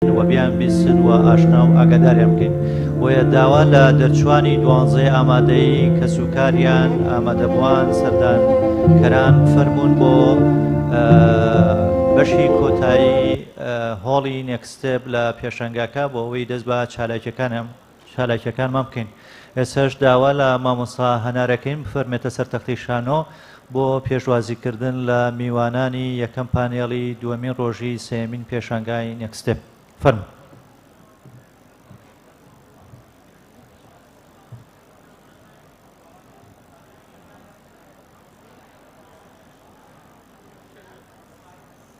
و بیانبیستن و ئاشنا و ئاگاداریان بکەین، بۆیە داوا لە دەرچووانی دوانزەی ئامادەی کەسوکاریان، ئامادەبووان، سەردانکەران بفەرموون بۆ بەشی کۆتایی هۆڵی نێکست ستێپ لە پێشەنگاکە بۆ ئەوەی دەست بە چالاکییەکانیان چالاکیەکانمان بکەین ئێستاش داوا لە مامۆستا هەنارەکەین بفەرمێتە سەر تەختی شانۆ بۆ پێشوازیکردن لە میوانانی یەکەم پانێڵی دووەمین ڕۆژی سێمین پێشانگای نێکستێپ فەرمو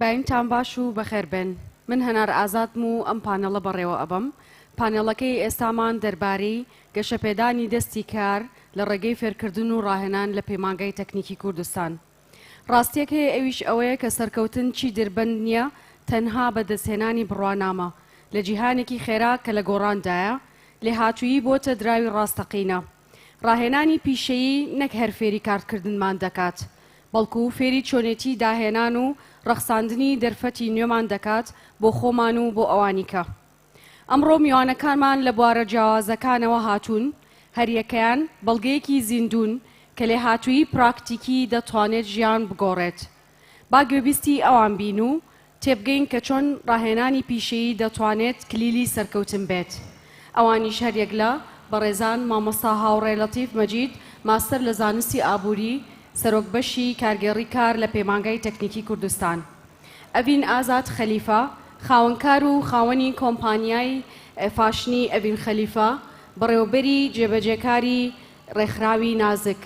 داینتان باش و بەخێر بێن. من هەنار ئازادم و ئەم پانێڵە بەڕێوە ئەبەم. پانێڵەکەی ئێستامان دەربارەی گەشەپێدانی دەستی کار لە ڕێگەی فێرکردن و ڕاهێنان لە پەیمانگای تەکنیکی کوردستان. ڕاستیەک هەیە ئەویش ئەوەیە کە سەرکەوتن چی دربەند نیە تەنها بە دەستهێنانی بڕوانامە. لە جیهانێکی خێرا کە لە گۆڕاندایە، لێهاتوویی بۆتە دراوی ڕاستەقینە. ڕاهێنانی پیشەیی نەک هەر فێری کارتکردنمان دەکات، بەڵکو فێری چۆنێتیی داهێنان و ڕەخساندنی دەرفەتی نوێمان دەکات بۆ خۆمان و بۆ ئەوانی کە ئەمڕۆ میوانەکانمان لە بوارە جیاوازەکانەوە هاتوون، هەریەکەیان بەڵگەیەکی زیندوون کە لێهاتوویی پراکتیکیی دەتوانێت ژیان بگۆڕێت. با گوێبیستی ئەوان بین و تێبگەین کە چۆن ڕاهێنانی پیشەیی دەتوانێت کلیلی سەرکەوتن بێت. ئەوانیش هەریەک لە، بەڕێزان، مامۆستا هاوڕێ لەتیف مەجید، ماستەر لە زانستی ئابووری، سەرۆک بەشی کارگێڕی کار لە پەیمانگای تەکنیکی کوردستان. ئەڤین ئازاد خەلیفە، خاوەنکار و خاوەنی کۆمپانیای فاشنی ئەڤین خەلیفە، بەڕێوەبەری جێبەجێکاری ڕێکخراوی نازک.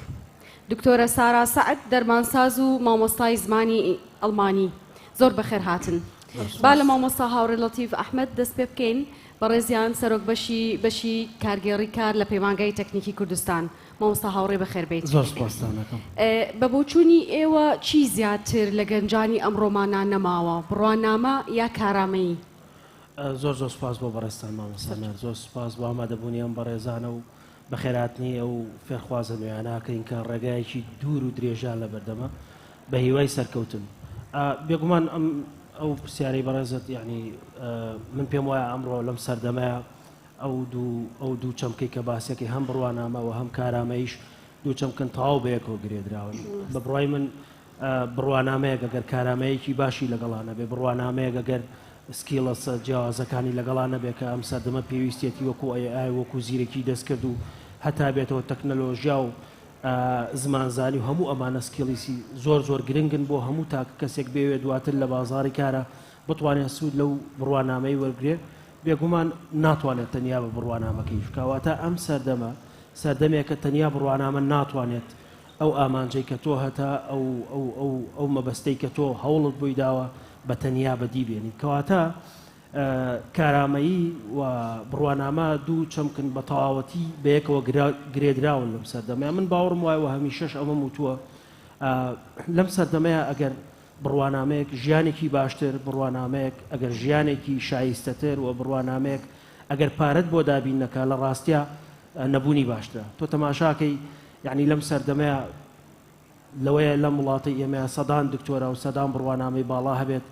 دکتۆرە سارا سەعد دەرمانساز و مامۆستای زمانی ئەڵمانی زۆر بەخێر هاتن با لە مامۆستا هاوڕێ لەتیف ئەحمد دەست پێ بکەین بەڕێزیان سەرۆک بەشی بەشی کارگێڕی کار لە پەیمانگای تەکنیکی کوردستان مامۆستا هاوڕێ بەخێربیت بە بۆچوونی ئێوە چی زیاتر لە گەنجانی ئەمڕۆمانان نەماوە بڕوانامە یا کارامەیی زۆر زۆر سپاس بۆ بەڕێستان مامۆسانە زۆر سپاس بۆ ئامادەبوونی ئەم بەڕێزانە و بەخێرهاتنی ئەو فێرخوازە نوێیانە کە ئینکە ڕێگایەکی دوور و درێژیان لە بەردەمە بە هیوای سەرکەوتن ئا بێگومان ئەم ئەو پرسیارەی بەڕێزت یعنی من پێم وایە ئەمڕۆ لەم سەردەمەیە ئەو دوو ئەو دوو چەمکەی کە باسیەکەی هەم بڕوانامەوە هەم کارامەیش دوو چەمکن تەواو بەیەکەوە گرێدراون بە بڕای من بڕوانامەیەک ئەگەر کارامەیەکی باشی لەگەڵا نەبێ، بڕوانامەیەک ئەگەر Skills ە جیاوازەکانی لەگەڵا نەبێ کە ئەم سەردەمە پێویستیەتی وەکو AI وەکو زیرەکی دەستکرد و هەتا بێتەوە تەکنەلۆژیا و زمان زانی و هەموو ئەمانە Skills ی زۆر زۆر گرنگن بۆ هەموو تاک کەسێک بێوێ دواتر لە بازاڕی کارا بتوانێ سوود لەو بڕوانامەی وەرگرێ بێگومان ناتوانێت تەنیا بە بڕوانامەکەیش بکا واتا ئەم سەردەمە سەردەمێکە تەنیا بڕوانامە ناتوانێت ئەو ئامانجەی کە تۆ هەتا ئەو ئەو ئەو ئەو مەبەستەی کە تۆ هەوڵت بۆی داوە بە تەنیا بەدی بێنیت کەواتە کارامەیی و بڕوانامە دوو چەمکن بە تەواوەتی بەیەکەوە گرێدراون لەم سەردەمەیە من باوەڕم وایە و هەمیشەش ئەمەم وتووە لەم سەردەمەیە ئەگەر بڕوانامەیەک ژیانێکی باشتر بڕوانامەیەک ئەگەر ژیانێکی شایستەتر و بڕوانامەیەک ئەگەر پارەت بۆ دابین نەکە لە ڕاستە نەبوونی باشترە تۆ تەماشاکەی یەعنی لەم سەردەمەیا لەوەیە لەم وڵاتەی ئێمەیا سەدان دکتۆرا و سەدان بڕوانامەی باڵا هەبێت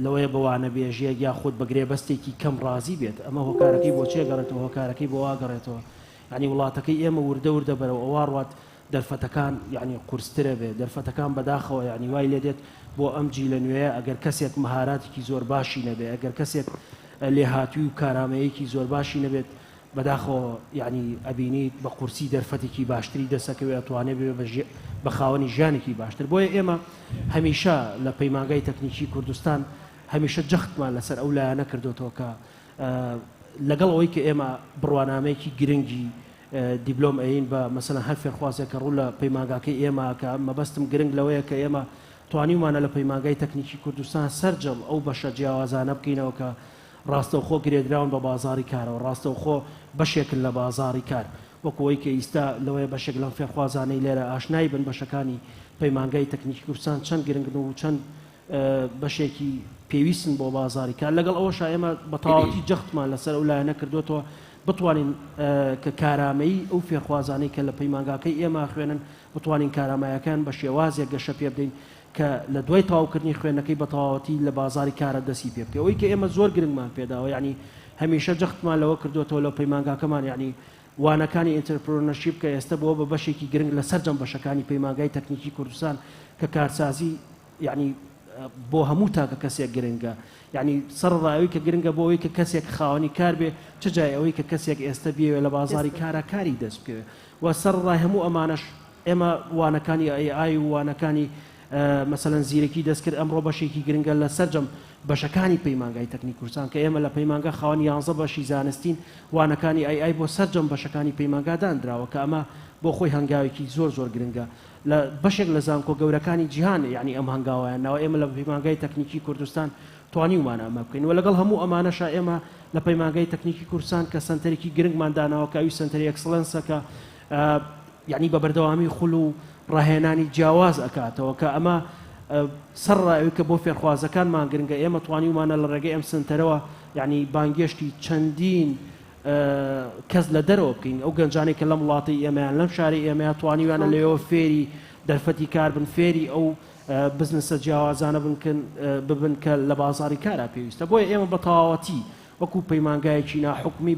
لەوەیە بە وانەبێژیەک یا خود بە گرێبەستێکی کەم ڕازی بێت ئەمە هۆکارەکەی بۆ چێگەڕێتەوە هۆکارەکەی بۆ واگەڕێتەوە یعنی وڵاتەکەی ئێمە وردە وردە بەرەوە ئەوە ڕات دەرفەتەکان یعنی قورسترە بێت دەرفەتەکان بەداخەوە یعنی وای لێ دێت بۆ ئەم جی لە نوێ ئەگەر کەسێک مهاراتێکی زۆر باشی نەبێ ئەگەر کەسێک لێهاتووی و کارامەیەکی زۆر باشی نەبێت بەداخەوە یەعنی ئەبینیت بە قورسی دەرفەتێکی باشتری دەسەکەوێ ئەتوانێ ببێ بە ژێ بە خاوەنی ژیانێکی باشتر بۆیە ئێمە هەمیشە لە پەیمانگای تەکنیکی کوردستان هەمیشە جەختمان لەسەر ئەو لایەنە کردۆتەوە کە لەگەڵ ئەوەی کە ئێمە بڕوانامەیەکی گرنگی دیبلۆم ئەین بە مەسەن هەر فێرخوازێک کە ڕوو لە پەیمانگاکەی ئێمە کە مەبەستم گرنگ لەوەیە کە ئێمە توانیومانە لە پەیمانگای تەکنیکی کوردستان سەرجەم ئەو بەشە جیاوازانە بکەینەوە کە ڕاستەوخۆ گرێدراون بە بازاڕی کارەوە، ڕاستەوخۆ بەشێکن لە بازاڕی کار، وەک ئەوەی کە ئیستا لەوەیە بەشێک لەم فێرخوازانەی لێرە ئاشنای بن بەشەکانی پەیمانگای تەکنیکی کوردستان چەند گرنگن و چەند بەشێکی پێویستن بۆ بازاڕی کار، لەگەڵ ئەوەشا ئێمە بە تەواوەتی جەختمان لەسەر ئەو لایەنە کردۆتەوە بتوانین کە کارامەیی ئەو فێرخوازانەی کە لە پەیمانگاکەی ئێمە ئەخوێنن بتوانین کاراماییەکەیان بە شێوازێک گەشە پێبدەین کە لە دوای تەواوکردنی خوێندنەکەی بە تەواوەتی لە بازاڕی کارا دەستی پێ بکەی ئەوەی کە ئێمە زۆر گرنگمان پێ داوە یەعنی هەمیشە جەختمان لەوە کردۆتەوە لە پەیمانگاکەمان یەعنی وانەکانی ئینترپرۆنەرشیپ کە ئێستە بووە بە بەشێکی گرنگ لە سەرجەم بەشەکانی پەیمانگای تەکنیکی کوردستان کە کارسازی یەعنی بۆ هەموو تاکە کەسێک گرنگە یعنی سەرڕای ئەوی کە گرنگە بۆ ئەوی کە کەسێک خاوەنی کار بێ چ جای ئەوەی کە کەسێک ئێستە بێوێ لە بازاری کارا کاری دەست بکەوێ و سەرڕای هەموو ئەمانەش ئێمە وانەکانی ئەی ئای و وانەکانی مەسەلەن زیرەکی دەستکرد ئەمڕۆ بەشێکی گرنگە لە سەرجەم بەشەکانی پەیمانگای تەکنی کوردستان کە ئێمە لە پەیمانگا خاوەن یانزە بەشی زانستین وانەکانی ئەی ئای بۆ سەرجەم بەشەکانی پەیمانگا دانراوە کە ئەمە بۆ خۆی هەنگاوێکی زۆر زۆر گرنگە لە بەشێک لە زانکۆ گەورەکانی جیهان یعنی ئەم هەنگاوایان ناوە ئێمە لە پەیمانگای تەکنیکی کوردستان توانیومان ئەمە بکەین و لەگەڵ هەموو ئەمانەشا ئێمە لە پەیمانگای تەکنیکی کوردستان کە سەنتەرێکی گرنگمان داناوە کە ئەوی سەنتەری ئەکسڵێنسە کە یەعنی بە بەردەوامی خول و ڕاهێنانی جیاواز ئەکاتەوە کە ئەمە سەر ڕای ئەوی کە بۆ فێرخوازەکانمان گرنگە ئێمە توانیومانە لە ڕێگەی ئەم سنتەرەوە یەعنی بانگێشتی چەندین کەس لە دەرەوە بکەین ئەو گەنجانەی کە لەم وڵاتی ئێمەیان لەم شاری ئێمەیان توانیویانە لەوێەوە فێری دەرفەتی کار بن فێری ئەو بزنسە جیاوازانە بنکن ببن کە لە بازاری کارا پێویستە بۆیە ئێمە بە تەواوەتی وەکو پەیمانگایەکی ناحکومی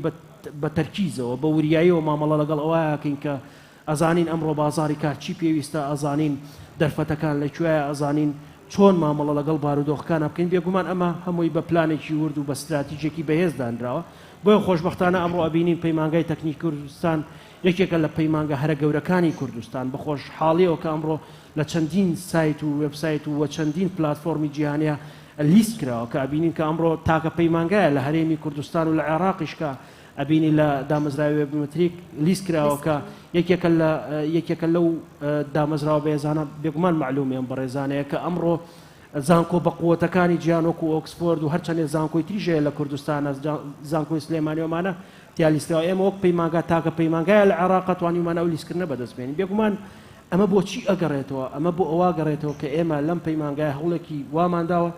بە تەرکیزەوە بە وریاییەوە مامەڵە لەگەڵ ئەوە ئەکەین کە ئەزانین ئەمڕۆ بازاڕی کار چی پێویستە، ئەزانین دەرفەتەکان لە کوێیە، ئەزانین چۆن مامەڵە لەگەڵ بارودۆخەکان بکەین، بێگومان ئەمە هەمووی بە پلانێکی ورد و بە ستراتیجێکی بەهێز دانراوە، بۆیە خۆشبەختانە ئەمڕۆ ئەبینین پەیمانگای تەکنیکی کوردستان یەکێکە لە پەیمانگە هەرە گەورەکانی کوردستان، بە خۆشحاڵیەوە کە ئەمڕۆ لە چەندین سایت و وێبسایت و چەندین پلاتفۆرمی جیهانیا لیست کراوە کە ئەبینین کە ئەمڕۆ تاکە پەیمانگایە لە هەرێمی کوردستان و لە عێڕاقیش کە ئەبینی لە دامەزراوی وێبمەتریک لیست کراوە کە یەکێکە لە یەکێکە لەو دامەزراوە بەێزانە بێگومان معلومی ئەم بەڕێزانەیە کە ئەمڕۆ زانکۆ بە قوتەکانی جیان وەکو ئۆکسفۆرد و هەرچەندێ زانکۆی تریژەیە لە کوردستانە زانکۆی سلێمانیۆمانە تیالیستراوە ئێمە وەک پەیمانگا تاکە پەیمانگایە لە عێراق توانیمان ئەو لیستکردنە بەدەستبێنین بێگومان ئەمە بۆ چی ئەگەڕێتەوە؟ ئەمە بۆ ئەوە ئەگەڕێتەوە کە ئێمە لەم پەیمانگایە هەوڵێکی وامان داوە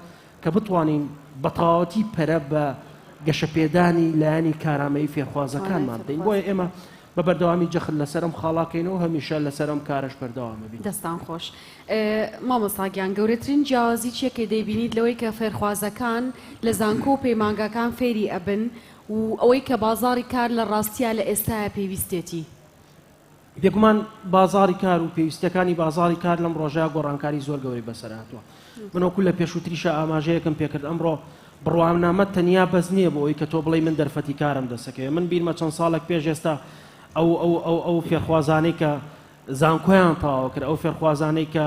کە بتوانین بە تەواوەتی پەرە بە گەشەپێدانی لایەنی کارامەیی فێرخوازەکانمان بدەین، بۆیە ئێمە بە بەردەوامی جەخت لەسەر ئەم خاڵە ئەکەینەوە و هەمیشە لەسەر ئەم کارەش بەردەوام ئەبین. دەستان خۆش. مامۆستا گیان گەورەترین جیاوازی چییە کە دەیبینیت لەوەی کە فێرخوازەکان لە زانکۆ و پەیمانگاکان فێری ئەبن و ئەوەی کە بازاڕی کار لە ڕاستیا لە ئێستایە پێویستێتی؟ بێگومان بازاڕی کار و پێویستیەکانی بازاڕی کار لەم ڕۆژە گۆڕانکاری زۆر گەورەی بەسەرهاتووە من وەکو لە پێشووتریشە ئاماژەیەکم پێکرد ئەمڕۆ بڕوانامە تەنیا بەس نییە بۆ ئەوی کە تۆ بڵی من دەرفەتی کارم دەسەکەێ من بیرمە چەند ساڵێک پێش ئێستا ئەو ئەو ئەو ئەو فێرخوازانەی کە زانکۆیان تەواوە کرد ئەو فێرخوازانەی کە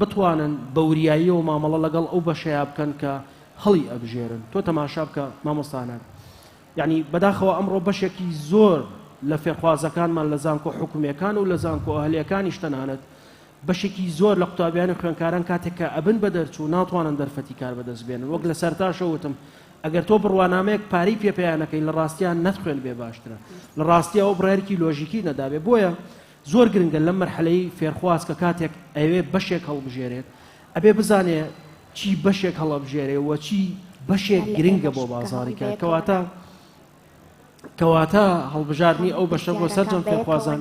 بتوانن بە وریاییەوە مامەڵە لەگەڵ ئەو بەشەیا بکەن کە هەڵی ئەبژێرن تۆ تەماشا بکە مامۆستا هەنار یەعنی بەداخەوە ئەمڕۆ بەشێکی زۆر لە فێرخوازەکانمان لە زانکۆ حکومیەکان و لە زانکۆ ئەهلیەکانیش تەنانەت بەشێکی زۆر لە قوتابیانی خوێنکاران کاتێک کە ئەبن بە دەرچوو ناتوانن دەرفەتی کار بەدەست بێنن وەک لە سەرتاشە وتم ئەگەر تۆ بڕوانامەیەک پارەی پێپیانەکەی لە ڕاستیان نەتخوێن بێ باشترە لە ڕاستیەوە بڕارکی لۆژیکی نەدابێ بۆیە زۆر گرنگە لەم مەرحەلەی فێرخواز کە کاتێک ئەیەوێ بەشێک هەڵبژێرێت ئەبێ بزانێ چی بەشێک هەڵەبژێرێ وە چی بەشێک گرنگە بۆ بازاری کار کەواتە کەواتە هەڵبژاردنی ئەو بەشە بۆ سەرجەم فێرخوازان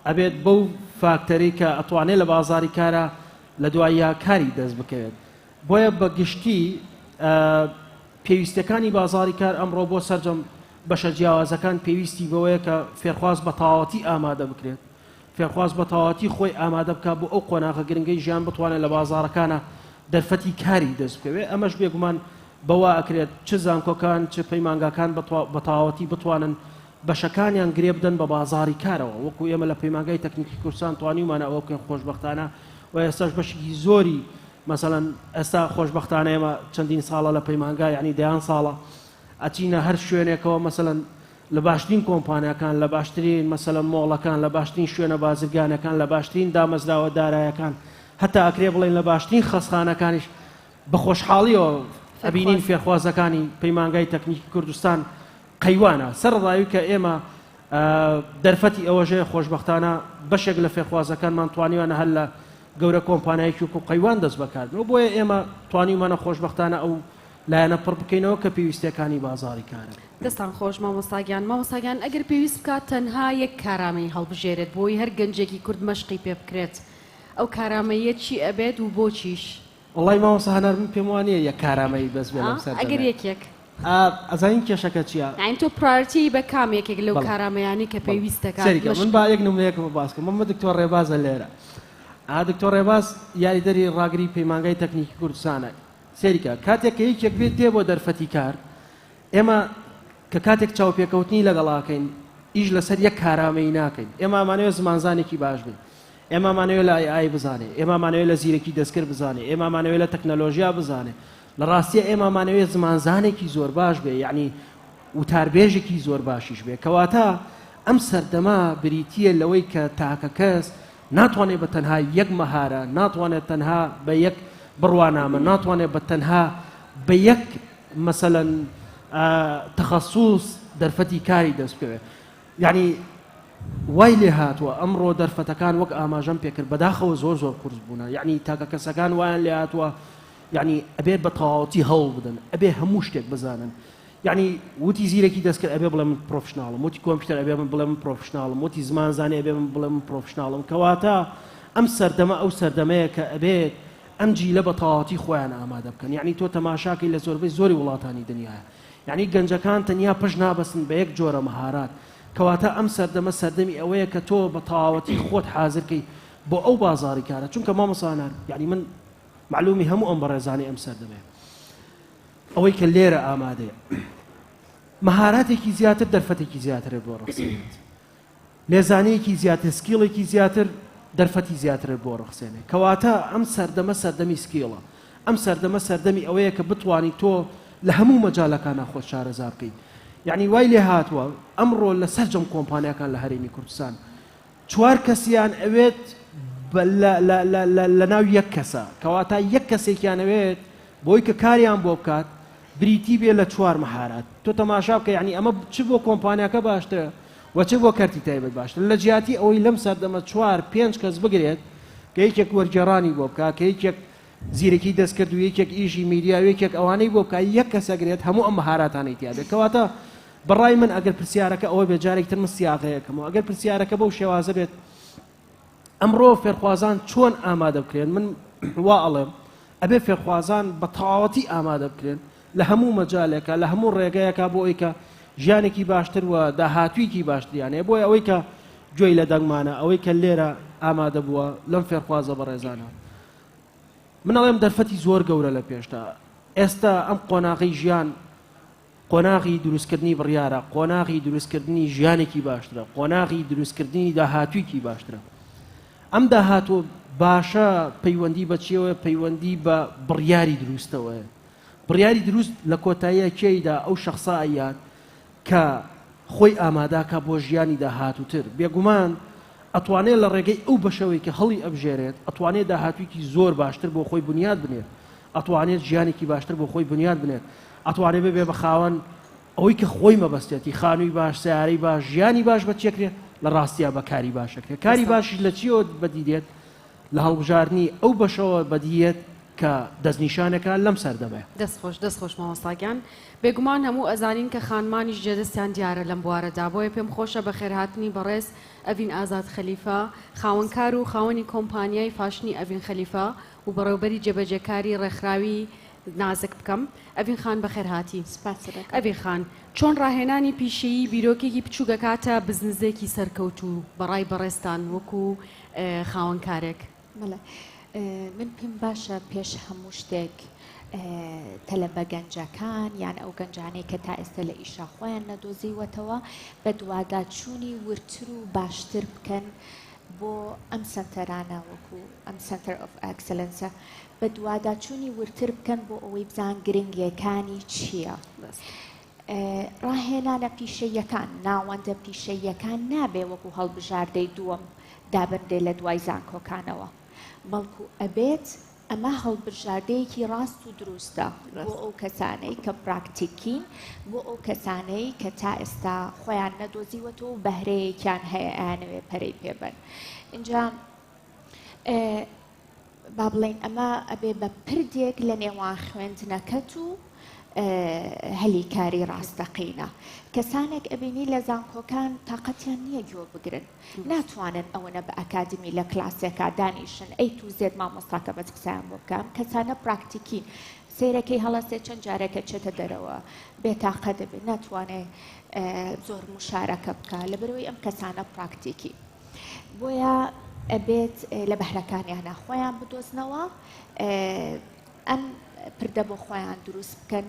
ئەبێت بەو فاکتەری کە ئەتوانێت لە بازاری کارە لە دوایە کاری دەست بکەوێت بۆیە بە گشتی پێویستەکانی بازاری کار ئەمڕۆ بۆ سەرجەم بەشە جیاوازەکان پێویستی بەوەیە کە فێرخواز بە تەواوەتی ئامادە بکرێت. فێرخواز بە تەواوەتی خۆی ئامادە بکات بۆ ئەو قۆناغە گرنگەی ژیان بتوانێت لە بازاڕەکانا دەرفەتی کاری دەست بکەوێت، ئەمەش بێگومان بەوە ئەکرێت چ زانکۆکان چ پەیمانگاکان بە تەواوەتی بتوانن بەشەکانیان گرێ بدەن بە بازاڕی کارەوە، وەکو ئێمە لە پەیمانگای تەکنیکی کوردستان توانیومانە ئەوە بکەین خۆشبەختانە و ئێستاش بەشێکی زۆری مەسەلەن ئێستا خۆشبەختانە ئێمە چەندین ساڵە لە پەیمانگا یەعنی دەیان ساڵە ئەچینە هەر شوێنێکەوە مەسەلەن لە باشترین کۆمپانیاکان لە باشترین مەسەلەن مۆڵەکان لە باشترین شوێنە بازرگانەکان لە باشترین دامەزراوە دارایەکان هەتا ئەکرێ بڵێن لە باشترین خەستخانەکانیش بە خۆشحاڵیەوە ئەبینین فێرخوازەکانی پەیمانگای تەکنیکی کوردستان قەیوانە سەر ڕاوی کە ئێمە دەرفەتی ئەوەژەیە خۆشببختانە بەشێک لە فێرخوازەکانمان توانیوانە هەر لە گەورە کۆمپانایکی و قەیوان دەست بەکاردن و بۆیە ئێمە توانیمانە خۆشببختانە ئەو لایەنە پڕ بکەینەوە کە پێویستیەکانی بازاری کارن. دەستتان خۆش مامۆستا گیان، مامۆستا گیان ئەگەر پێویست بکات تەنها یەک کارامەیی هەڵبژێرێت بۆی هەر گەنجێکی کورد مەشقی پێ بکرێت ئەو کارامەییە چی ئەبێت و بۆچیش؟ وەڵای مامۆستا هەنار من پێم وانیە یەک کارامەیی بەس بێ لەم سەردەمێ. ئەگەر یەکێک. ئەزانین کێشەکە چیە؟ یانی تۆ پرایۆرتیی بە کام یەکێک لەو کارامەیانەی کە پێویست دەکات مەشق. سەیری کە من با یەک نمونەیەکم باس کەم مەمە دکتۆر ڕێبازە لێرە دکتۆر ڕێباز یاریدەری ڕاگری پەیمانگای تەکنیکی کوردستانە سەیرکە کاتێک کە یەکێک پێت دێ بۆ دەرفەتی کار ئێمە کە کاتێک چاوپێکەوتنی لەگەڵاکەین ئیش لەسەر یەک کارامەیی ناکەین ئێمامانەوە زمانزانێکی باش بێ ئێمامانەوە لە ئای بزانێ ئێمامانەوە لە زیرەکی دەستکرد بزانێ ئێمامانەوە لە تەکنەلۆژیا بزانێ لە ڕاستیە ئێمامانەوە زمانزانێکی زۆر باش بێ یعنی وتاربێژێکی زۆر باشیش بێ کەواتە ئەم سەردەما بریتە لەوەی کە تاکە کەس ناتوانێت بە تەنها یەک مەهارە، ناتوانێت تەنها بە یەک بڕوانامە، ناتوانێت بە تەنها بە یەک مەسەلەن تەخەسوس دەرفەتی کاری دەست بکەوێت. یعنی وای لێ هاتووە ئەمڕۆ دەرفەتەکان وەک ئاماژەم پێکرد بەداخەوە زۆر زۆر قورس بوونە یعنی تاکە کەسەکان وایان لێ هاتووە یعنی ئەبێت بە تەواوەتی هەوڵ بدەن ئەبێ هەموو شتێک بزانن یەعنی وتی زیرەکی دەستکرد ئەبێ بڵێ من پرۆفشناڵم وتی کۆمپیوتەر ئەبێ من بڵێ من پرۆفشناڵم وتی زمانزانی ئەبێ من بڵێ من پرۆفشناڵم کەواتە ئەم سەردەمە ئەو سەردەمەیە کە ئەبێت ئەم جیلە بە تەواوەتی خۆیان ئامادە بکەن یەعنی تۆ تەماشاکەی لە زۆربەی زۆری وڵاتانی دنیاە یەعنی گەنجەکان تەنیا پشت نابەستن بە یەک جۆرە مەهارات کەواتە ئەم سەردەمە سەردەمی ئەوەیە کە تۆ بە تەواوەتی خۆت حازرکەی بۆ ئەو بازاری کارە چونکە مامەسانان یەعنی من معلومی هەموو ئەم بەڕێزانەی ئەم سەردەمەیە ئەوەی کە لێرە ئامادەیە مەهاراتێکی زیاتر دەرفەتێکی زیاترە بۆ ڕەخسێنێت لێزانەیەکی زیاتر سکیڵێکی زیاتر دەرفەتی زیاترە بۆ ڕخسێنێ کەواتە ئەم سەردەمە سەردەمی سکیڵە ئەم سەردەمە سەردەمی ئەوەیە کە بتانی تۆ لە هەموو مەجالەکانە خۆ شارەزا بکەیت یعنی وای لێ هاتووە ئەمڕۆ لە سەرجەم کۆمپانیەکان لە هەرێمی کوردستان چوار کەسیان ئەوێت بە لە لە لە لە لەناو یەک کەسە کەواتە یەک کەسێکیان ئەوێت بۆی کە کاریان بۆ بکات بریتی بێ لە چوار مەهارات تۆ تەماشا بکە یعنی ئەمە چ بۆ کۆمپانیاکە باشترە و چ بۆ کەرتی تایبەت باشتر لە جیاتی ئەوەی لەم سەردەمە چوار پێنج کەس بگرێت کە یەکێک وەرگێڕانی بۆ بکە کە یەکێک زیرەکی دەستکرد و یەکێک ئیشی میدیا و یەکێک ئەوانەی بۆ بکە یەک کەسەگرێت هەموو ئەم مەهاراتانەی تیاێت کەواتە بە ڕای من ئەگەر پرسیارەکە ئەوە بێت جارێکی تر من سیاغەیەکەمەوە ئەگەر پرسیارەکە بەو شێوازە بێت ئەمڕۆ فێرخوازان چۆن ئامادە بکرێن من وا ئەڵێم ئەبێ فێرخوازان بە تەواوەتی ئامادە بکرێن لە هەموو مەجالێکە لە هەموو ڕێگەیەکە بۆ ئەوی کە ژیانێکی باشتر و داهاتوویکی باشتریانەیە بۆیە ئەوەی کە گوێی لە دەنگمانە ئەوەی کە لێرە ئامادە بووە لەم فێرخوازە بەڕێزانە منەڵێم دەرفەتی زۆر گەورە لە پێشتا ئێستا ئەم قۆناغی ژیان قۆناغی دروستکردنی بڕیارە، قۆناغی دروستکردنی ژیانێکی باشترە، قۆناغی دروستکردنی داهاتوویکی باشترە. ئەم داهاتووە باشە پەیوەندی بە چیەوەیە؟ پەیوەندی بە بڕیاری دروستەوەیە. بڕیاری دروست لە کۆتاییە کێیدا ئەو شەخسە ئەیات کە خۆی ئاماداکە بۆ ژیانی داهاتووتر. بێگومان ئەتوانێت لە ڕێگەی ئەو بەشەوەی کە هەڵی ئەبژێرێت، ئەتوانێت داهاتوویکی زۆر باشتر بۆ خۆی بنیات بنێت. ئەتوانێت ژیانێکی باشتر بۆ خۆی بنیات بنێت، ئەتوانێت ببێت بە خاوەن ئەوەی کە خۆی مەبەستێتی، خانووی باش، سەیارەی باش، ژیانی باش بە چێکرێت، لە ڕاستیا بە کاری باش ئەکرێت، کاری باشیش لە چییەوە بەدی دێت؟ لە هەڵبژاردنی ئەو بەشەوە بەدی یەت کە دەستنیشانەکە لەم سەردەمەیە. دەست خۆش دەست خۆش مامۆستا گیان بێگومان هەموو ئەزانین کە خانمانیش جێدەستیان دیارە لەم بوارەدا بۆیە پێم خۆشە بەخێرهاتنی بەڕێز ئەڤین ئازاد خەلیفە خاوەن کار و خاوەنی کۆمپانیای فاشنی ئەڤین خەلیفە و بەڕێوبەری جێبەجێکاری ڕێکخراوی نازک بکەم. ئەڤین خان بەخێر هاتی. سپاست دەکەم. ئەڤین خان، چۆن ڕاهێنانی پیشەیی بیرۆکێکی بچووک ئەکاتە بزنزێکی سەرکەوتوو بە ڕای بەڕێزتان وەکو خاوەن کارێک؟ بەڵێ من پێم باشە پێش هەموو شتێک تەلەبە گەنجەکان یان ئەو گەنجانەی کە تا ئێستە لە ئیشا خۆیان نەدۆزیوەتەوە بەدواداچوونی وردتر و باشتر بکەن بۆ ئەم سەنتەرانە وەکو ئەم سەنتەر ئۆف ئەکسلەنسە بەدواداچوونی وردتر بکەن بۆ ئەوەی بزان گرنگیەکانی چییە. ڕاهێنانە پیشەییەکان، ناوەندە پیشەییەکان نابێ وەکو هەڵبژاردەی دووەم دابنرێ لە دوای زانکۆکانەوە، بەڵکو ئەبێت، ئەمە هەڵبژاردەیەکی ڕاست و دروستە بۆ ئەو کەسانەی کە پراکتیکین، بۆ ئەو کەسانەی کە تا ئێستا خۆیان نەدۆزیوەتەوە و بەهرەیەکیان هەیە ئەیانەوێت پەرەی پێبەن. ئینجا با بڵێین ئەمە ئەبێ بە پردێک لە نێوان خوێندنەکەت و هەلی کاری ڕاستەقینە. کەسانێک ئەبینی لە زانکۆکان تاقەتیان نییە گوێ بگرن. ناتوانن ئەوەنە بە ئەکادمی لە کلاسێکا دانیشن ئەی تو زێد مامۆستاکە بەس قسەیان بۆ بکە ئەم کەسانە پراکتیکین سەیرەکەی هەڵەسێ چەند جارێکە چێتە دەرەوە بێتاقە دەبێت ناتوانێ زۆر مشارەکە بکە لەبەرەوەی ئەم کەسانە پراکتیکی بۆیە ئەبێت لە بەهرەکانیانە خۆیان بدۆزنەوە ئەم پردە بۆ خۆیان دروست بکەن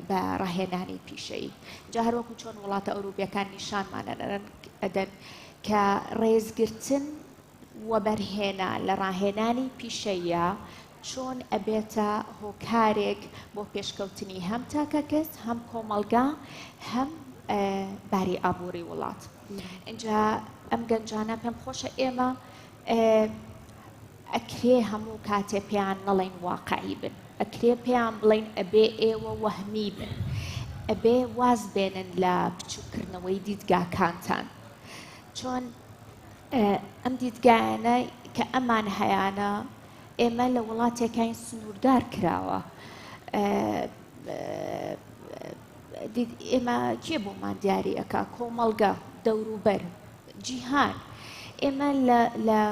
بە ڕاهێنانی پیشەیی جا هەروەکو چۆن وڵاتە ئەوروپیەکان نیشانمان ئەدەن کە ڕێزگرتن وەبەرهێنا لە ڕاهێنانی پیشەیە چۆن ئەبێتە هۆکارێک بۆ پێشکەوتنی هەم تاکەکەس هەم کۆمەلگا هەم باری ئابووری وڵات اینجا ئەم گەنجانە پێم خۆشە ئێمە ئەکرێ هەموو کاتێ پێیان نەڵێین واقعی بن، ئەکرێ پێیان بڵێین ئەبێ ئێوە وەهمی بن، ئەبێ واز بێنن لە بچووک کردنەوەی دیدگاکانتان، چۆن ئەم دیدگایانە کە ئەمان هەیانە ئێمە لە وڵاتێکین سنووردار کراوە ئێمە کێ بۆمان دیاری ئەکا کۆمەڵگە دەوروبەر جیهان، ئێمە لە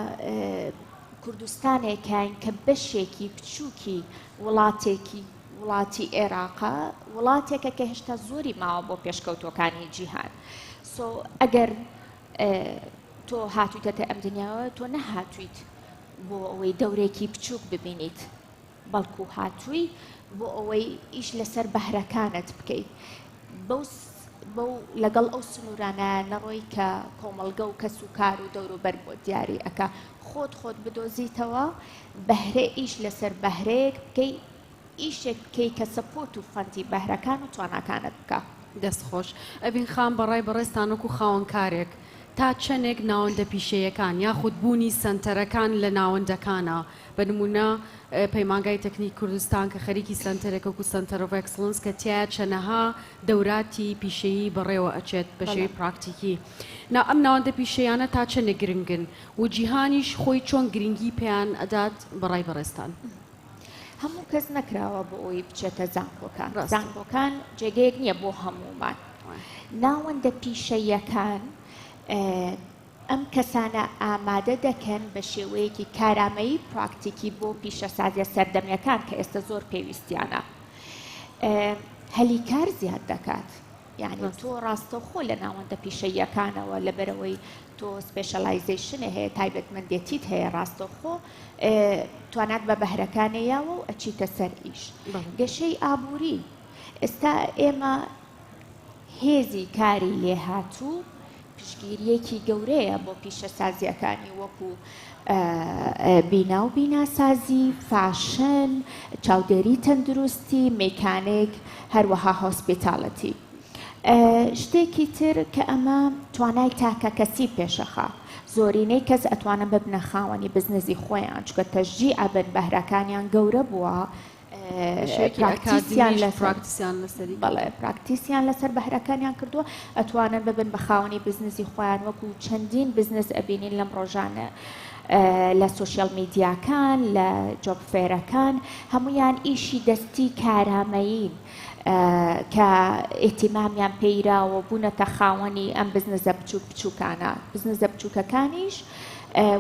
کوردستانێکاین کە بەشێکی بچووکی وڵاتێکی وڵاتی ئێراقە، وڵاتێکە کە هێشتا زۆری ماوە بۆ پێشکەوتوەکانی جیهان. سۆ ئەگەر تۆ هاتوویتەتە ئەم دنیاوە تۆ نەهاتویت بۆ ئەوەی دەورێکی بچووک ببینیت. بەڵکو هاتووی بۆ ئەوەی ئیش لەسەر بەهرەکانت بکەی بەو بەو لەگەڵ ئەو سنوورانە نەڕۆی کە کۆمەڵگە و کەس و کار و دەوروبەر بۆ دیاری ئەکا خۆت خۆت بدۆزیتەوە بەهرە ئیش لەسەر بەهرەیەک بکەی ئیشێک بکەی کە سەپۆت و فەندی بەهرەکان و تواناکانت بکە. دەست خۆش. ئەڤین خان بەڕای بەڕێزتان وەکو خاوەن کارێک تا چەنێک ناوەندە پیشەیەکان یاخود بوونی سەنتەرەکان لە ناوەندەکانە بە نموونە پەیمانگای تەکنیکی کوردستان کە خەریکی سەنتەرێکە وەکوو سەنتەر ئۆف ئێکسڵنس کە تیایە چەنەها دەوراتی پیشەیی بەڕێوە ئەچێت بە شێوەی پراکتیکی نا ئەم ناوەندە پیشەییانە تا چەنێ گرنگن و جیهانیش خۆی چۆن گرنگی پێیان ئەدات بە ڕای بەڕێزتان؟ هەموو کەس نەکراوە بۆ ئەوەی بچێتە زانکۆکان ڕاستە زانکۆکان جێگەیەک نییە بۆ هەموومان وایە ناوەندە پیشەییەکان ئێ. ئەم کەسانە ئامادە دەکەن بە شێوەیەکی کارامەیی پراکتیکی بۆ پیشەسازیە سەردەمیەکان کە ئێستە زۆر پێویستیانە هەلی کار زیاد دەکات. یعنی تۆ ڕاستەوخۆ لە ناوەندە پیشەییەکانەوە لەبەرەوەی تۆ سپێشەلایزیشنە هەیە تایبەتمەندێتیت هەیە ڕاستەوخۆ توانات بە بەهرەکانی یاوە و ئەچیتە سەر ئیش گەشەی ئابووری ئێستا ئێمە هێزی کاری لێهاتوو پشتگیرییەکی گەورەیە بۆ پیشەسازییەکانی وەکو بینا و بیناسازی، فاشن، چاودێری تەندروستی، میکانیک، هەروەها هۆسپیتالتی. شتێکی تر کە ئەمە توانای تاکەکەسی پێشەخە، زۆرینەی کەس ئەتوانن ببنە خاوەنی بزنزی خۆیان، چونکە تەشجیع ئەبن، بەهرەکانیان گەورە بووە، پراکتیسیان لەسەر بەهرەکانیان کردووە ئەتوانن ببن بە خاوەنی بزنسی خۆیان وەکو چەندین بزنس ئەبینین لەم ڕۆژانە لە سوسیال میدیاکان لە جۆب فێرەکان هەمویان ئیشی دەستی کارامەیین کە ئیتیمامیان پێیراوە بوونەتە خاوەنی ئەم بزنزە بچوک بچووکانە بزنزە بچووکەکانیش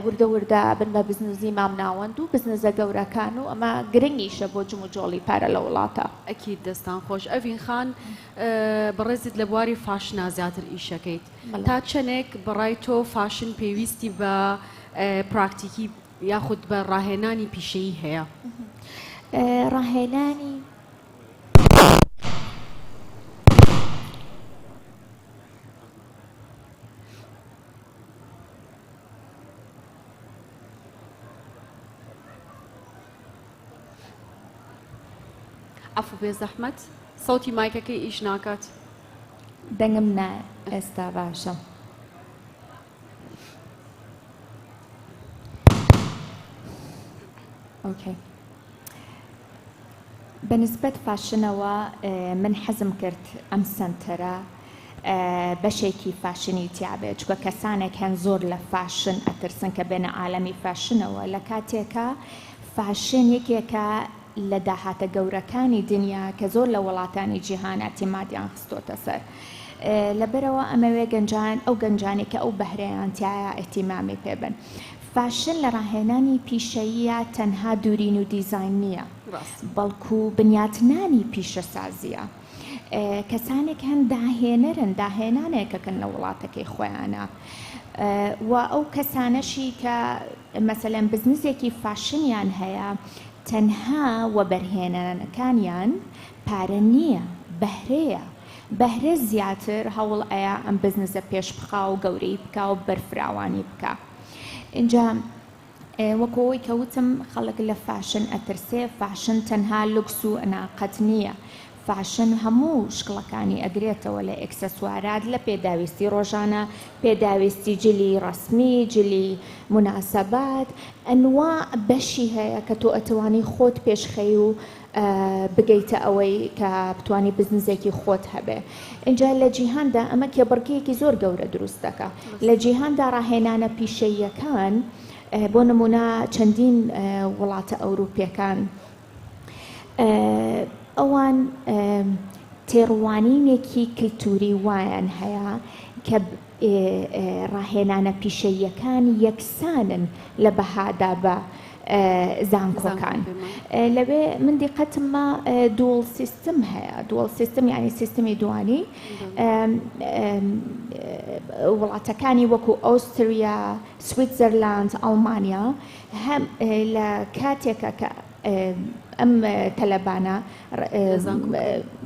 وردە وردە بن بە بزنزی مامناوەند و بزنزە گەورەکان و ئەمە گرنگیشە بۆ جم و جۆڵی پارە لە وڵاتە. ئەکید دەستان خۆش ئەڤین خان بەڕێزت لە بواری فاشنا زیاتر ئیش ئەکەیت تا چەنێک بەڕای تۆ فاشن پێویستی بە پراکتیکی یاخود بە ڕاهێنانی پیشەیی هەیە ڕاهێنانی عەفو بێزەحمەت سەوتی مایکەکەی ئیش ناکات دەنگم نا ئێستا باشە ئۆکەی بە نسبەت فاشنەوە من حەزم کرد ئەم سەنتەرە بەشێکی فاشنی تیابێت چکە کەسانێک هەن زۆر لە فاشن ئەترسن کە بێنە عالەمی فاشنەوە لە کاتێکە فاشن یەکێکە لە داهاتە گەورەکانی دنیا کە زۆر لە وڵاتانی جیهان ئەتیمادیان خستۆتە سەر لەبەرەوە ئەمەوێ گەنجان ئەو گەنجانی کە ئەو بەهرەیان تایە ئەتیمامی پێبن فاشن لە ڕاهێنانی پیشەییە تەنها دورین و دیزاین نییە ڕاست بەڵکو بنیاتنانی پیشەسازییە کەسانێک هەن داهێنەرن داهێنانێکەکەن لە وڵاتەکەی خۆیانە و ئەو کەسانەشی کە مەسەلەن بزنسێکی فاشنیان هەیە تەنها وەبەرهێنانەکانیان پارە نییە بەهرەیە بەهرە زیاتر هەوڵ ئەیا ئەم بزنسە پێش بخا و گەورەی بکا و بەرفراوانی بکە ئینجا وەک ئەوەی کە وتم خەڵک لە فاشن ئەترسێ فاشن تەنها لوکس و ئەناقەت نییە فاشن هەموو شکڵەکانی ئەگرێتەوە لە ئێکسسوارات لە پێداویستی ڕۆژانە پێداویستی جلی ڕسمی جلی مناسەبات ئەنوا بەشی هەیە کە تۆ ئەتوانی خۆت پێشخەی و بگەیتە ئەوەی کە بتوانی بزنزێکی خۆت هەبێ ئینجا لە جیهاندا ئەمە کێبڕکیەکی زۆر گەورە دروست دەکە لە جیهاندا ڕاهێنانە پیشەییەکان بۆ نمونە چەندین وڵاتە ئەوروپیەکان ئەوان تێڕوانینێکی کللتوری وایان هەیە کە ڕاهێنانە پیشەییەکان یەکسانن لە بەهادا بە زانکۆکان لەوێ من دیقەتم ما دووڵ سیستم هەیە دووڵ سیستم یعنی سیستمی دوانی وڵاتەکانی وەکو ئۆستریا سویتزەرلاند ئەڵمانیا هەم لە کاتێکە کە ئەم تەلەبانە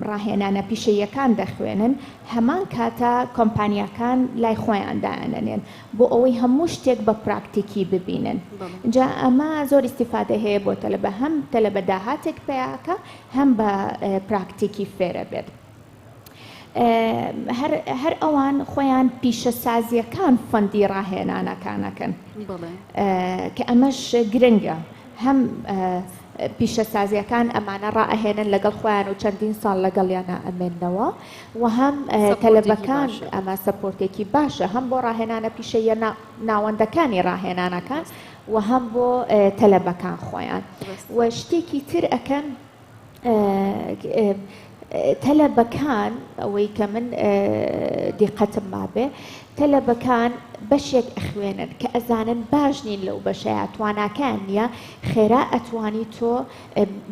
ڕاهێنانە پیشەییەکان دەخوێنن، هەمان کاتە کۆمپانیاکان لای خۆیان دایانەنێن بۆ ئەوەی هەموو شتێک بە پراکتیکی ببینن. جا ئەمە زۆر ئیستیفادەی هەیە بۆ تەلەبە، هەم تەلەبە داهاتێک پەیا ئەکا، هەم بە پراکتیکی فێرەبێت. هەر ئەوان خۆیان پیشەسازییەکان فەندی ڕاهێنانەکانەکەن کە ئەمەش گرنگە هەم پیشەسازیەکان ئەمانە ڕائهێنن لەگەڵ خۆیان و چەندین ساڵ لەگەڵیانە ئەمێنەوە و هەم تەلبەکان ئەمە سەپۆرتێکی باشە هەم بۆ ڕاهێنانە پیشەیە ناوەندەکانی ڕاهێنانەکان و هەم بۆ تەلبەکان خۆیان و شتێکی تر ئەەکەن تەلەبەکان ئەوەی کە من دیقەتم مابێ تەلەبەکان بەشێک ئەخوێنن کە ئەزانن باش نین لەو بەشەیە تواناکان نییە خێرا ئەتوانی تۆ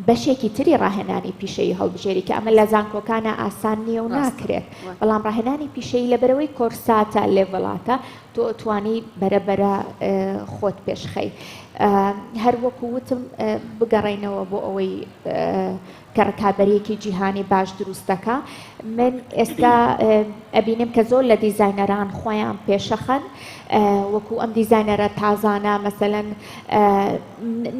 بەشێکی تری ڕاهێنانی پیشەی هەڵبژێری کە ئەمە لە زانکۆکانە ئاسان نییە و ناکرێت بەڵام ڕاهێنانی پیشەی لەبەرەوەی کۆرساتە لێڤڵاتە تۆ ئەتوانی بەرە بەرە خۆت پێش خەی هەر وەکو وتم بگەڕێینەوە بۆ ئەوەی کە ڕکابەرێکی جیهانی باش دروستەکە من ئێستا ئەبینم کە زۆر لە دیزینەران خۆیان پێشەخەن وەکو ئەم دیزینەرە تازانە مەسەەن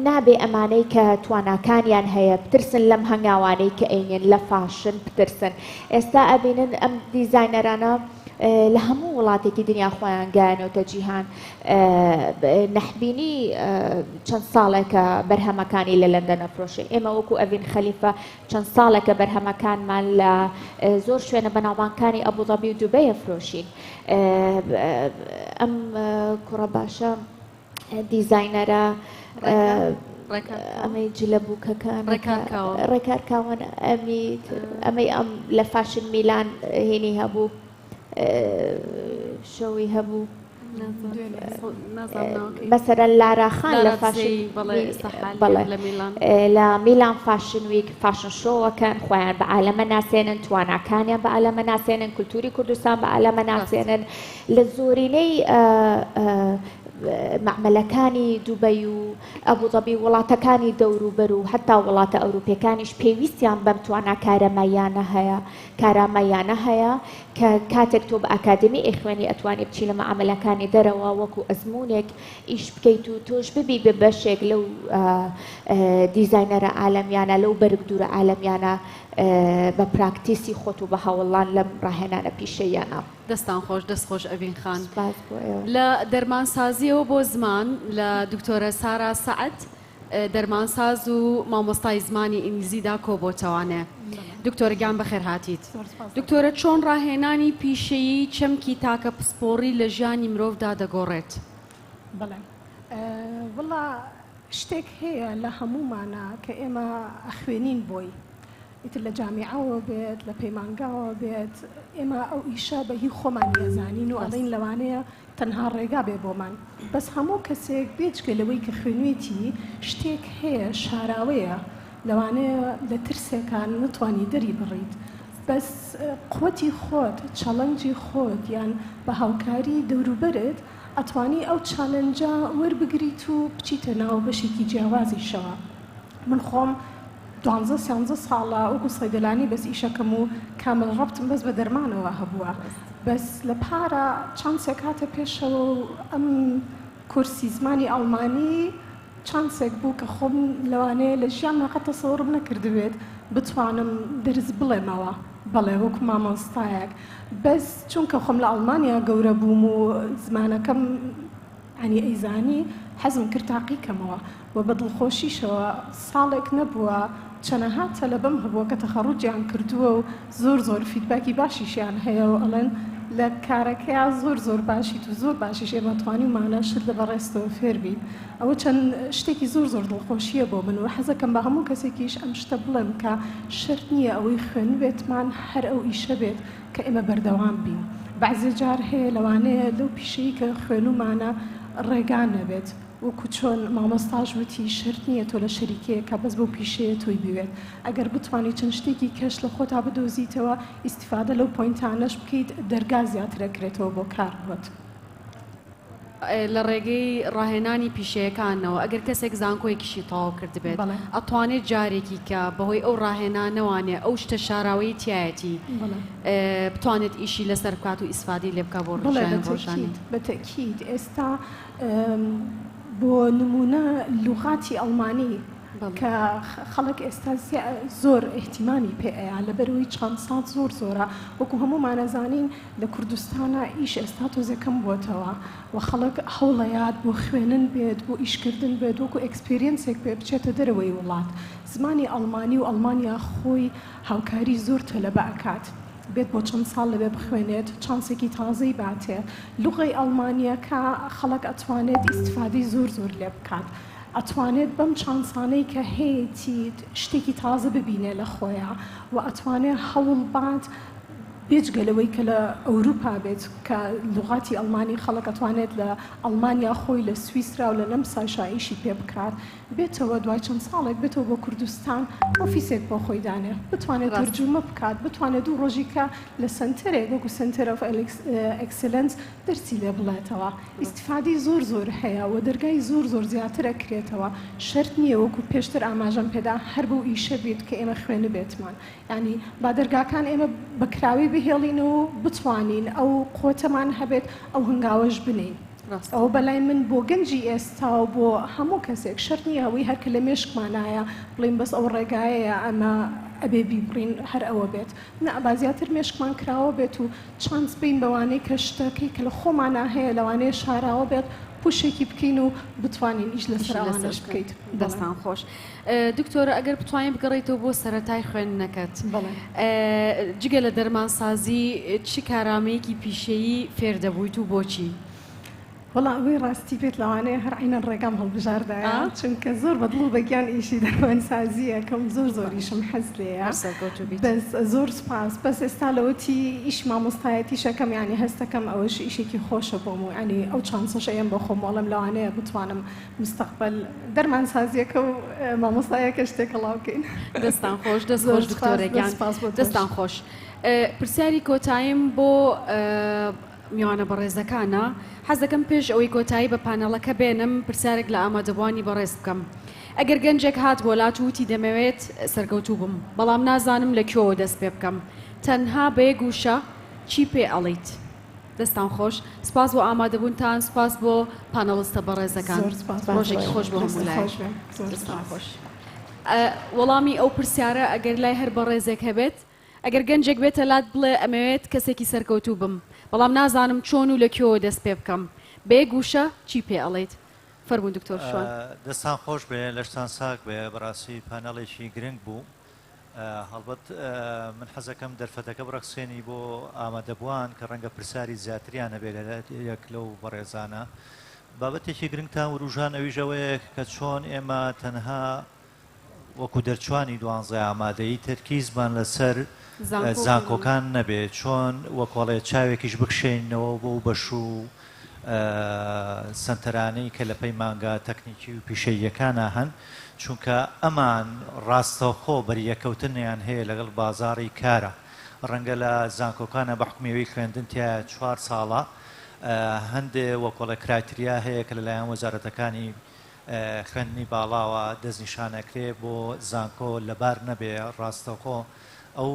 نابێ ئەمانەی کە تواناکانیان هەیە بترسن لەم هەنگاوانەی کە ئەینێن لە فاشن بترسن ئێستا ئەبینن ئەم دیزینەرانە لە هەموو وڵاتێکی دنیا خۆیان گەیانەوتە جیهان نەحبینی چەند ساڵێکە بەرهەمەکانی لە لەندە نەفرۆشێ ئێمە وەکو ئەڤین خەلیفە چەند ساڵێکە بەرهەمەکانمان لە زۆر شوێنە بەناوبانکانی ئەبوظەبی و دوبەیە فرۆشین ئەم کوڕە باشە دیزاینەرە ئەمەی جلە بووکەکان ڕێکار کاوان ئەمی ئەمەی ئەم لە فاشن میلان هێنی هەبوو شەوی هەبوو مەسەرە لاراخان لە فاشن لە میلان فاشن ویک فاشن شۆوەکەن خۆیان بە عالەمە ناسێنن تواناکانیان بە عالەمە ناسێنن کولتوری کوردستان بە عالەمە ناسێنن لە زۆرینەی مەعمەلەکانی دوبەی و ئەبوزەبی و وڵاتەکانی دەوروبەر و هەتا وڵاتە ئەوروپیەکانیش پێویستیان بەم توانا کارەماییانە هەیە کارامەیانە هەیە کە کاتێک تۆ بە ئاکادمی ئەیخوێنی ئەتوانی بچی لە مەعامەلەکانی دەرەوە وەکو ئەزمونێک ئیش بکەیت و تۆش ببی بە بەشێک لەو دیزاینەرە عالەمیانە لەو بەرگ دوورە عالەمیانە بە پراکتیسی خۆت و بە هەوڵان لەم ڕاهێنانە پیشەیانە دەستتان خۆش دەست خۆش ئەڤین خان سوپاس بۆ ئێوە. لە دەرمانسازیەوە بۆ زمان لە دکتۆرە سارا سەعد دەرمانساز و مامۆستای زمانی ئینگلیزیدا کۆبۆتەوانێ دکتۆرە گیان بەخێر هاتیت زۆر سوپاس دەکەم. دکتۆرە چۆن ڕاهێنانی پیشەیی چەمکی تاکە پسپۆڕی لە ژیانی مرۆڤدا دەگۆڕێت؟ بەڵێ ئە وەڵا شتێک هەیە لە هەموومانا کە ئێمە ئەخوێنین بۆی. ئیتر لە جامیعەوە بێت لە پەیمانگاوە بێت ئێمە ئەو ئیشە بە هی خۆمانی ئەزانین و ئەڵین لەوانەیە تەنها ڕێگا بێ بۆمان بەس هەموو کەسێک بێجگە لەوەی کە خوێنێتی شتێک هەیە شاراوەیە لەوانەیە لە ترسێکان نتوانی دەری بڕیت بەس قوتی خۆت چەڵەنجی خۆت یان بە هاوکاری دەوروبەرت ئەتوانی ئەو چالنجە وەربگریت و بچیتە ناو بەشێکی جیاوازیشەوە. من خۆم دوانزە سیانزە ساڵە وەکو سەیدەلانی بەس ئیشەکەم و کامل ڕەبتم بەس بە دەرمانەوە هەبووە بەس لە پارە چەند سێکاتە پێشەوە و ئەم کورسی زمانی ئەڵمانی چانسێک بوو کە خۆم لەوانەیە لە ژیان مەقەت تەسەوڕم نەکردبێت بتوانم دەرز بڵێمەوە بەڵێ وەکو مامۆستایەک بەس چونکە خۆم لە ئەڵمانیا گەورە بووم و زمانەکەم ئەنی ئەیزانی حەزم کرد تاقی کەمەوە و بە دڵخۆشیشەوە، ساڵێک نەبووە چەنەها تەلەبەم هەبووە کە تەخەڕوجیان کردووە و زۆر زۆر فیدباکی باشیشیان هەیە و ئەڵێن لە کارەکەیا زۆر زۆر باشیت و زۆر باشیش ئێمە توانیومانە شت لە بەڕێزتەوە فێر بین ئەوە چەن شتێکی زۆر زۆر دڵخۆشیە بۆ من و حەزەکەم بە هەموو کەسێکیش ئەم شتە بڵێم کە شەرت نیە ئەوەی خوێندبێتمان هەر ئەو ئیشە بێت کە ئێمە بەردەوام بین بەعزێ جار هەیە لەوانەیە لەو پیشەی کە خوێنومانە ڕێگا نەبێت وەکو چۆن مامۆستاش وتی شرت نییە تۆ لە شەریکەیەکە بەس بۆ پیشەیە تۆی بوێت ئەگەر بتانی چەند شتێکی کەش لە خۆتا بدۆزیتەوە ئیسیفادە لەو پۆینتانەش بکەیت دەرگا زیاترەکرێتەوە بۆ کار بۆت. لە ڕێگەی ڕاهێنانی پیشەیەکانەوە ئەگەر کەسێک زانکۆیەکیشی تەواو کردبێت ئەتوانێت جارێکی کە بەهۆی ئەو ڕاهێنانەوانێ ئەو شتە شاراوەی تایەتی بتوانێت ئیشی لەسەر بکات و ئیسفادی لێ بکە بۆ ڕژیان ڕۆژانی بەتەکیید ئێستا بۆ نمونە لوغاتی ئەڵمانی کە خەڵک ئێستا زۆر ئیهتیمامی پێ ئەیا لەبەروی چەند ساڵ زۆر زۆرە وەکو هەموومان ئەزانین لە کوردستانا ئیش ئێستا تۆزێ کەم بۆتەوە و خەڵک هەوڵەیات بۆ خوێنن بێت بۆ ئیشکردن بێت وەکو ئێکسپێریەنسێک پێ بچێتە دەرەوەی وڵات زمانی ئەڵمانی و ئەڵمانیا خۆی هاوکاری زۆر تەلەبە ئەکات بێت بۆ چەند ساڵ لەوێ بخوێنێت چانسێکی تازەی باتێ لوغەی ئەڵمانیەکە خەڵک ئەتوانێت ئیستفادەی زۆر زۆر لێ بکات ئەتوانێت بەم چانسانەی کە هەیەتی شتێکی تازە ببینێ لە خۆیا و ئەتوانێ هەوڵ بات بێجگە لەوەی کە لە ئەوروپا بێت کە لوغاتی ئەڵمانی خەڵک ئەتوانێت لە ئەڵمانیا خۆی لە سویسرا و لە نەمساشا ئیشی پێ بکات بێتەوە دوای چەند ساڵێک بێتەوە بۆ کوردستان ئۆفیسێک بۆ خۆی دانێ بتوانێت ڕاست تەرجومە بکات بتوانێت دوو ڕۆژی کە لە سەنتەرێک وەکو سەنتەر ئۆف ئەلیکس- ئێکسلەنس دەرسی لێ بڵێتەوە ئیستیفادەی زۆر زۆر هەیە وە دەرگای زۆر زۆر زیاتر ئەکرێتەوە شەرت نیە وەکو پێشتر ئاماژەم پێدا هەر بەو ئیشە بیت کە ئێمە خوێنبێتمان یانی با دەرگاکان ئێمە بە کراوەی بهێڵین و بتوانین ئەو قوتەمان هەبێت ئەو هەنگاوەش بنێین ڕاستە. ئەوە بەلای من بۆ گەنجی ئێستا و بۆ هەموو کەسێک شەرت نییە ئەوەی هەر کە لە مێشکمانایە بڵێین بەس ئەو ڕێگایەیە ئەمە ئەبێ بیبڕین هەر ئەوە بێت نا با زیاتر مێشکمان کراوە بێت و چانس بین بەوانەی کە شتەکەی کە لە خۆمانا هەیە لەوانەیە شاراوە بێت پوشێکی بکەین و بتوانین ئیش لە سەرانەش بکەیت دەستان خۆش دکتۆرە ئەگەر بتوانین بگەڕیتەوە بۆ سەتای خوێندنەکەت جگە لە دەرمانسازی چی کارامەیەکی پیشەیی فێر دەبوویت و بۆچی؟ وەڵا ئەوەی ڕاستی بێت لەوانەیە هەر عینەن ڕێگام هەڵبژاردایە چونکە زۆر بەدڵ و بەگیان ئیشی دەروەنسازییەکەم زۆر زۆریشم حەز لێیە بەس زۆر سپاس بەس ئێستا لەوەتی ئیش مامۆستایەتیشەکەم یانی هەستەکەم ئەوەش ئیشێکی خۆشە بۆم و ینی ئەو چانسەش ئەیەم بۆ خۆم وەڵم لەوانەیە بتوانم مستەقبەل دەرمانسازیەکە و مامۆستایەکەش تێکەڵاو بکەین دەستان خۆش دەست خۆش دکتۆرەگیان دەستان خۆش پرسیاری کۆتاییم بۆ میوانە بەڕێزەکانە، حەز دەکەم پێش ئەوەی کۆتایی بە پانێڵەکە بێنم پرسیارێک لە ئامادەبووانی بەڕێز بکەم. ئەگەر گەنجێک هات بۆ لات و وتی دەمەوێت سەرکەوتوو بم، بەڵام نازانم لە کوێوە دەست پێ بکەم، تەنها بە یەک وشە چی پێ ئەڵێیت؟ دەستتان خۆش، سپاس بۆ ئامادەبوونتان، سپاس بۆ پانێڵستە بەڕێزەکان. ڕۆژێکی خۆش بۆ هەموو لایەک. دەستتان خۆش. وەڵامی ئەو پرسیارە ئەگەر لای هەر بەڕێزێک هەبێت. ئەگەر گەنجێک بێتە لات بڵێ ئەمەوێت کەسێکی سەرکەوتوو بم بەڵام نازانم چۆن و لە کوێوە دەست پێ بکەم بە یەک وشە چی پێ ئەڵێیت؟ فەرموون دکتۆر شوان. دەستان خۆش بێ لەشتان ساغ بێ بەڕاستی پانەڵێکی گرنگ بوو هەڵبەت من حەزەکەم دەرفەتەکە بڕەخسێنی بۆ ئامادەبووان کە ڕەنگە پرسیاری زیاتریان هەبێ لە یەک لەو بەڕێزانە بابەتێکی گرنگتان وروژان ئەویش ئەوەیە کە چۆن ئێمە تەنها وەکو دەرچوانی دوانزە ئامادەی تەرکیزمان لەسەر زانکۆکان نەبێ چۆن وەکۆڵێ چاوێکیش بکشێنەوە بۆ و بەش و سنتەرانەی کە لە پەیمانگا تەکنیکی و پیشەییەکانە هەن چونکە ئەمان ڕاستەوخۆ بەریەکەوتنیان هەیە لەگەڵ بازاری کارە ڕەنگە لە زانکۆکانە بە حکومیەوەی خوێندن تیا چوار ساڵە هەندێ وەکۆڵە کرایتریا هەیە کە لەلایەن وەزارەتەکانی خوێندنی باڵاوە دەستنیشانەکرێ بۆ زانکۆ لەبار نەبێ ڕاستەوخۆ ئەو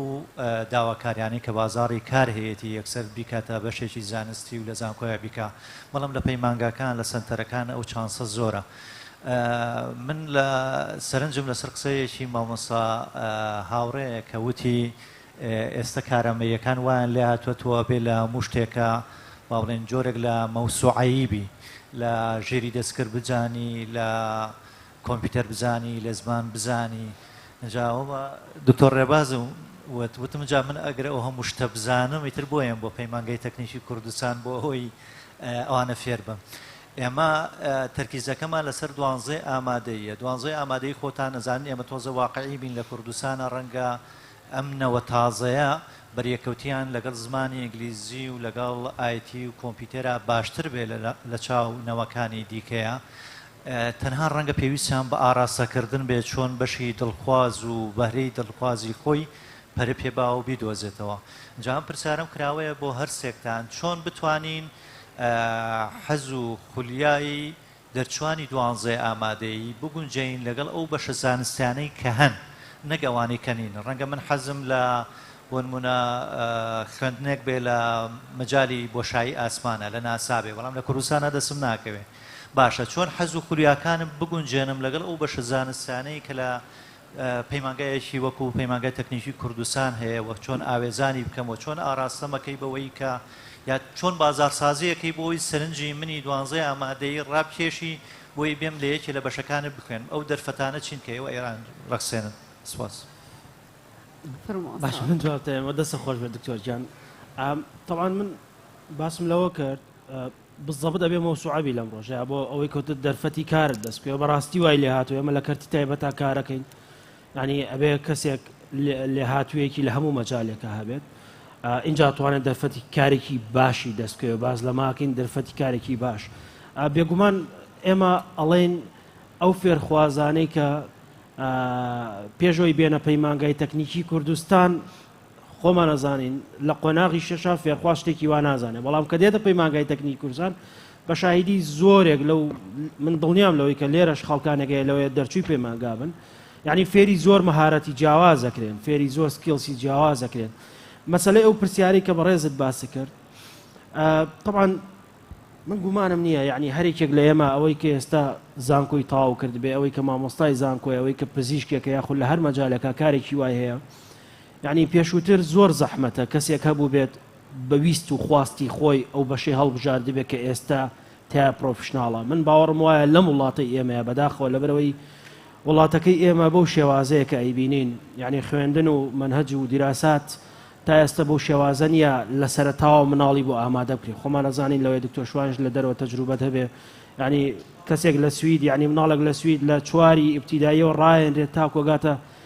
داواکاریانەی کە بازاری کار هەیەی یەکسەر بیکاتە بەشێکی زانستی و لە زانکۆیە بیکە بەڵام لە پەیمانگاکان لە سنتەرەکان ئەو چانسە زۆرە من لە سەرنجم لەسەر قسەیەکی مامۆسا هاوڕەیە کە وتی ئێستە کارامەییەکان وایان لێ هاتووەتەوە بێ لە هەموو شتێکە وا بڵێین جۆرێک لە مەوسوعەیی بی، لە ژێری دەستکرد بزانی، لە کۆمپیوتەر بزانی، لە زمان بزانی. ئینجا دکتۆر ڕێبازم وت، وتم جا من ئەگەر ئەو هەموو شتە بزانم، ئیتر بۆ یەم بۆ پەیمانگەی تەکنیکی کوردستان بۆ ئەوەی ئەوانە فێر بم؟ ئێمە تەرکیزەکەمان لەسەر دوانزەی ئامادەییە، دوانزەی ئامادەیی خۆتان ئەزانن ئێمە تۆزە واقعی بین لە کوردستانە ڕەنگە ئەم نەوە تازەیە بەریەکەوتیان لەگەڵ زمانی ئینگلیزی و لەگەڵ ئایتی و کۆمپیوتەرا باشتر بێ لە چاو نەوەکانی دیکەیا تەنها ڕەنگە پێویستیان بە ئاراستەکردن بێ چۆن بەشی دڵخواز و بەهرەی دڵخوازی خۆی پەرە پێ باو بیدۆزێتەوە جام پرسیارم کراوەیە بۆ هەرسێکتان چۆن بتوانین حەز و خولیایی دەرچوانی دوانزەیە ئامادەی بگونجێین لەگەڵ ئەو بەشە زانستیانەی کە هەن نەک ئەوانەی کە نین ڕەنگە من حەزم لە بۆنمونە خوێندنێک بێ لە مەجای بۆشایی ئاسمانە لە ناسابێ بەڵام لە کوردستانە دەسم ناکەوێ باشە چۆن حەز و خولیاکانم بگونجێنم لەگەڵ ئەو بەشە زانستانەی کە لە پەیمانگایەکی وەکو پەیمانگای تەکنیکی کوردستان هەیە و چۆن ئاوێزانی بکەم و چۆن ئاراستەمەکەی بەوەی کە یا چۆن بازارسازیەکەی بۆی سەرنجی منی دوانزەی ئامادەی ڕابکێشی بۆی بێم لە یەکێ لە بەشەکانت بخوێنم ئەو دەرفەتانە چین کە ئێوە ئێران ڕەخسێنن سپاس. باش من جوابتەوە دەسە خۆش بێت دکتۆر جان تەوان من باسم لەوە کرد بزەبت ئەبێ مەوسوعە بی لەم ڕۆژەیا بۆ ئەوەی کەوتت دەرفەتی کارت دەست کوێ بەڕاستی وای لێ هاتوو ئێمە لە کەرتی تایبەتا کارەکەین ینی ئەبێ کەسێک لێ هاتوویەکی لە هەموو مەجالێکە هەبێت اینجا توانێت دەرفەتی کارێکی باشی دەستکەوێ باز لە ماکەین دەرفەتی کارێکی باش بێگومان ئێمە ئەڵێن ئەو فێرخوازانەی کە پێشەوەی بێنە پەیمانگای تەکنیکی کوردستان خۆمان ئەزانین لە قۆناغی شەشا فێرخواز شتێکی وا نازانێت بەڵام کە دێتە پەیمانگای تەکنیکی کوردستان بە شاهیدی زۆرێک لەو من دڵنیام لەوەی کە لێرەش خەڵکانەکەی لەوەیە دەرچووی پەیمانگا بن یعنی فێری زۆر مەهارەتی جیاواز دەکرێن فێری زۆر سکیلسی جیاواز دەکرێن مەسلەی ئەو پرسیاری کە بەڕێزت باسی کرد طبعا من گومانم نییە یعنی هەرێکێک لە ئێمە ئەوەی کە ئێستا زانکۆی تاو کرد بێ ئەوەی کە مامۆستای زانکۆی ئەوەی کە پزیشکێکە یاخود لە هەر مەجالەکە کارێکی وای هەیە یەعنی پێشووتر زۆر زەحمەتە کەسێک هەبووبێت بە ویست و خواستی خۆی ئەو بەشەی هەڵبژاردبێت کە ئێستا تیا پرۆفشناڵە من باوەڕم وایە لەم وڵاتەی ئێمەیە بەداخەوە لەبەرەوەی وڵاتەکەی ئێمە بەو شێوازەیە کە ئەیبینین یەعنی خوێندن و مەنهەج و دیراسات تا ئێستا بەو شێوازە نییە لە سەرەتاوە مناڵی بۆ ئامادە بکرێت خۆمان ئەزانین لەوەی دکتۆر شوانش لە دەرەوە تەجروبەت هەبێ یعنی کەسێک لە سوید یعنی مناڵێک لە سوید لە چواری ئیبتیداییەوە ڕایەنرێت تاکۆگاتە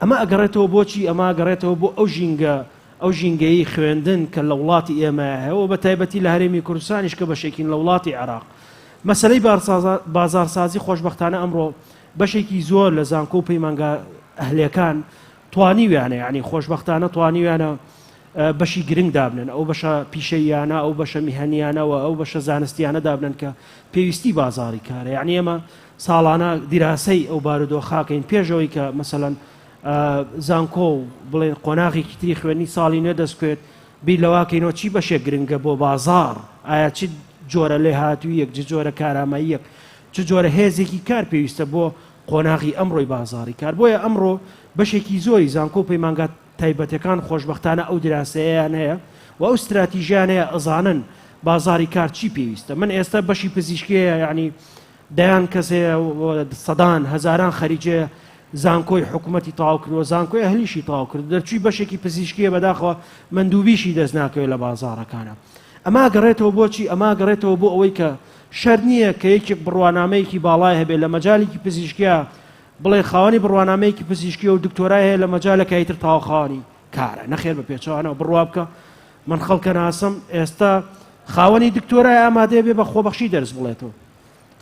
ئەمە ئەگەڕێتەوە بۆچی؟ ئەمە ئەگەڕێتەوە بۆ ئەو ژینگە، ئەو ژینگەی خوێندن کە لە وڵاتی ئێمەیا هەیە و بە تایبەتی لە هەرێمی کوردستانیش کە بەشێکین لە وڵاتی عێراق. مەسەلەی بازاڕسازی خۆشبەختانە ئەمڕۆ بەشێکی زۆر لە زانکۆ و پەیمانگا ئەهلییەکان توانیویانە، یانی خۆشبەختانە توانیویانە بەشی گرنگ دابنێن، ئەو بەشە پیشەییانە، ئەو بەشە میهەنییانە و ئەو بەشە زانستییانە دابنێن کە پێویستی بازاڕی کارە. یانی ئێمە ساڵانە دیراسەی ئەو بارودۆخە کەین پێش ئەوەی کە مەسەلەن زانکۆ و بڵێن قۆناغێکی تری خوێنی ساڵی نوێ دەستکوێت بیر لەواکەینەوە چی بەشێک گرنگە بۆ بازار ئایا چ جۆرە لێ هاتوویەک جە جۆرە کاراماییەک چ جۆرە هێزێکی کار پێویستە بۆ قۆناغی ئەمڕۆی بازاری کار بۆیە ئەمڕۆ بەشێکی زۆری زانکۆ پەیمانگا تایبەتەکان خۆشببختانە ئەو دراسەیەیان هەیە و ئەو استراتیژیانەیە ئەزانن بازاری کار چی پێویستە من ئێستا بەشی پزیشکەیە یعنی دەیان کەس هەیە و سەدان، هەزاران خەریجێ زانکۆی حکومەتی تەواو کردووە، زانکۆی ئەهلیشی تەواو کردووە، دەرچووی بەشێکی پزیشکییە بەداخەوە مەندووبیشی دەست ناکەوێ لە بازاڕەکانا. ئەمە ئەگەڕێتەوە بۆ چی؟ ئەمە ئەگەڕێتەوە بۆ ئەوەی کە شەرت نییە کە یەکێک بڕوانامەیەکی باڵای هەبێ لە مەجالێکی پزیشکیا بڵێ خاوەنی بڕوانامەیەکی پزیشکییە و دکتۆرای هەیە لە مەجالەکای تر تاوە خاوەنی کارە، نەخێر بە پێچەوانەوە بڕوا بکە من خەڵکەناسم ئێستا خاوەنی دکتۆرای ئامادەیە بێ بە خۆبەخشی دەرس بڵێتەوە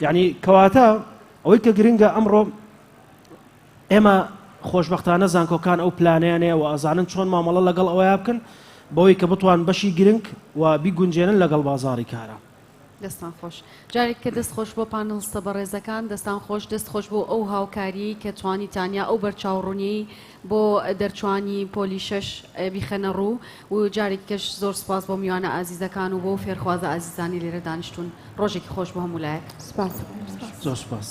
یعنی کەواتە ئەوەی کە گرنگە ئەمڕۆ ئێمە خۆشببختانە زانکۆکان ئەو پلانیانەیە و ئازانن چۆن مامەڵە لەگەڵ ئەوەیە بکەن بەوەی کە بتوان بەشی گرنگ و بیگونجێنن لەگەڵ بازاری کارە دەستتان خۆش. جارێک کە دەست خۆش بۆ پانڵستە بەڕێزەکان. دەستان خۆش، دەست خۆش بۆ ئەو هاوکاریەی کە توانیتان یا ئەو بەرچاوڕونیەی بۆ دەرچوانی پۆلی شەش بیخەنە ڕوو و جارێکی کەش زۆر سوپاس بۆ میوانە ئازیزەکان و بۆ فێرخوازە ئازیزانی لێرە دانیشتون ڕۆژێکی خۆش بۆ هەموو لایەک سوپاس زۆر سوپاس.